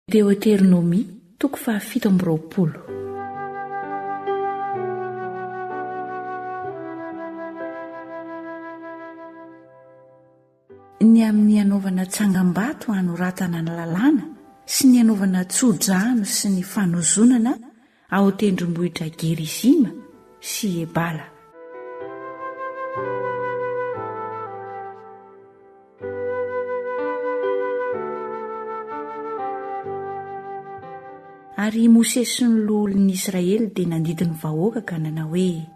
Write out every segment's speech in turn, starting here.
Deoteronomia, toko fahafito amby roapolo. Ny amin'ny hanaovana tsangambato hanoratana ny lalàna sy ny hanaovana tso-drano sy ny fanozonana ao tendrombohitra Gerizima sy Ebala. Ary i Mosesy sy ny loholon'ny Israely dia nandidy ny vahoaka ka nanao hoe,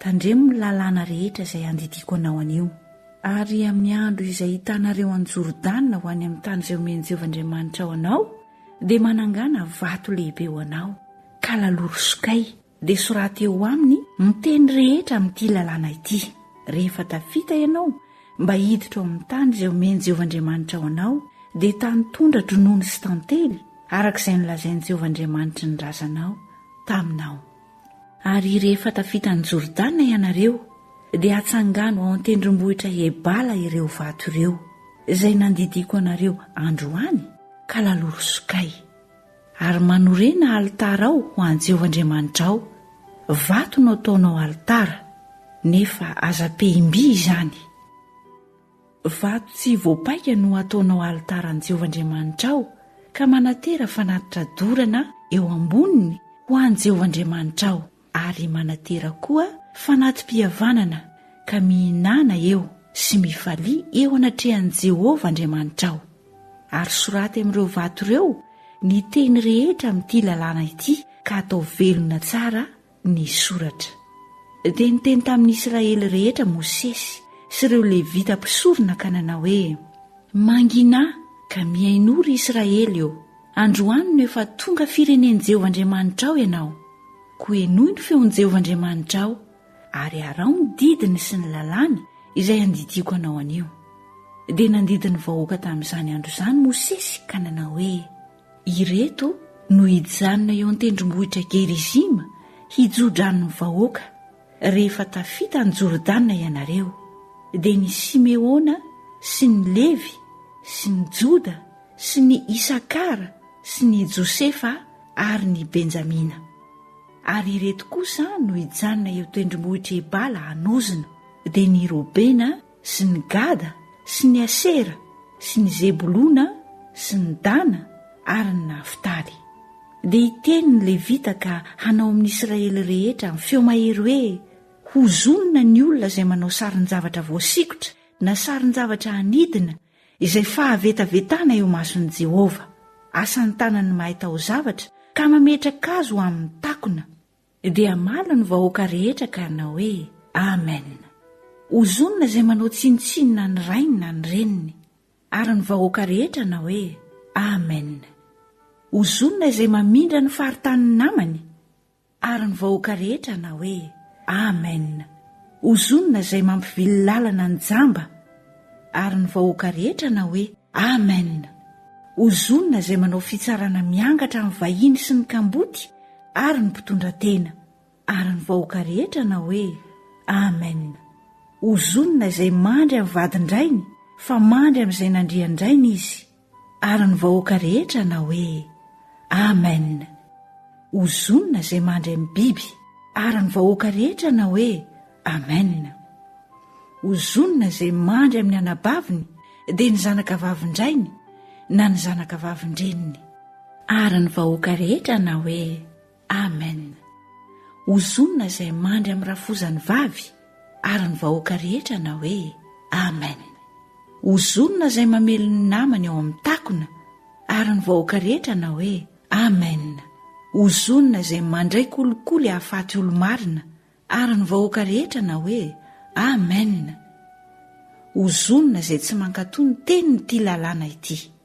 Tandremo ny lalàna rehetra izay andidiako anao anio. Ary amin'ny andro izay hitanareo an'i Jordana ho any amin'ny tany izay omen'i Jehovah Andriamanitrao anao, dia manangana vato lehibe ho anao, ka laloro sokay, dia soraty eo aminy ny teny rehetra amin'ity lalàna ity. Rehefa tafita ianao mba hiditra ao amin'ny tany izay omen'i Jehovah Andriamanitrao anao, dia tany tondra-dronono sy tantely, araka izay nolazain'i Jehovah Andriamanitry ny razanao taminao. Ary rehefa tafita an'i Jordana ianareo, dia atsangano ao an-tendrombohitra Ebala ireo vato ireo, izay nandidiako anareo androany, ka laloro sokay. Ary manorena alitara ao ho an'i Jehovah Andriamanitrao, vato no ataonao alitara, nefa aza pehim-by izany. Vato tsy voapaika no ataonao alitara an'i Jehovah Andriamanitrao, ka manatera fanatitra dorana eo amboniny ho an'i Jehovah Andriamanitrao, ary manatera koa fanati-pihavanana, ka mihinàna eo sy mifalia eo anatrehan'i Jehovah Andriamanitrao. Ary soraty amin'ireo vato ireo ny teny rehetra amin'ity lalàna ity, ka atao velona tsara ny soratra. Dia niteny tamin'ny Israely rehetra Mosesy sy ireo Levita mpisorona ka nanao hoe, Mangina ka mihainoa ry Israely ô! Androany no efa tonga firenen'i Jehovah Andriamanitrao ianao. Koa henoy ny feon'i Jehovah Andriamanitrao, ary araho ny didiny sy ny lalàny izay andidiako anao anio. Dia nandidy ny vahoaka tamin'izany andro izany Mosesy ka nanao hoe, Ireto no hijanona eo an-tendrombohitra Gerizima hijo-dranon'ny vahoaka, rehefa tafita an'i Jordana ianareo, dia ny Simeona sy ny Levy sy ny Joda sy ny Isakara sy ny Josefa ary ny Benjamina. Ary ireto kosa no hijanona eo tendrombohitr'i Ebala hanozona, dia ny Robena, sy ny Gada sy ny Asera sy ny Zebolona sy ny Dana ary ny Naftaly. Dia hiteny ny Levita ka hanao amin'ny Israely rehetra amin'ny feo mahery hoe, Hozonina ny olona izay manao sarin-javatra voasikotra na sarin-javatra hanidina izay fahavetavetana eo imason'i Jehovah, asan'ny tanan'ny mahay taozavatra, ka mametraka azy ho amin'ny takona, Dia hamaly ny vahoaka rehetra ka hanao hoe, Amen! Hozonina izay manao tsinontsinona ny rainy na ny reniny. Ary ny vahoaka rehetra hanao hoe, Amen! Hozonina izay mamindra ny faritanin'ny namany. Ary ny vahoaka rehetra hanao hoe, Amen! Hozonina izay mampivily lalana ny jamba. Ary ny vahoaka rehetra na hoe, Amen! Ho zonona izay manao fitsarana miangatra amin'ny vahiny sy ny kamboty ary ny mpitondra tena. Ary ny vahoaka rehetra na hoe, Amen! Ho zonona izay mandry amin'ny vadin-drainy, fa mandry amin'izay nandrian-drainy izy. Ary ny vahoaka rehetra hanao hoe, Amen! Ho zonona izay mandry amin'ny biby. Ary ny vahoaka rehetra hanao hoe, Amen! Ho zonona izay mandry amin'ny anabaviny, dia ny zanaka vavin-drainy na ny zanaka vavin-dreniny. Ary ny vahoaka rehetra hanao hoe, Amen! Hozonina izay mandry amin'ny rafozany vavy ary ny vahoaka rehetra hanao hoe Amen! Hozonina izay mamely ny namany ao amin'ny takona ary ny vahoaka rehetra hanao hoe Amen! Hozonina izay mandray kolikoly hahafaty olo-marina ary ny vahoaka rehetra hanao hoe Amen! Hozonina izay tsy mankatò ny tenin'ity lalàna ity.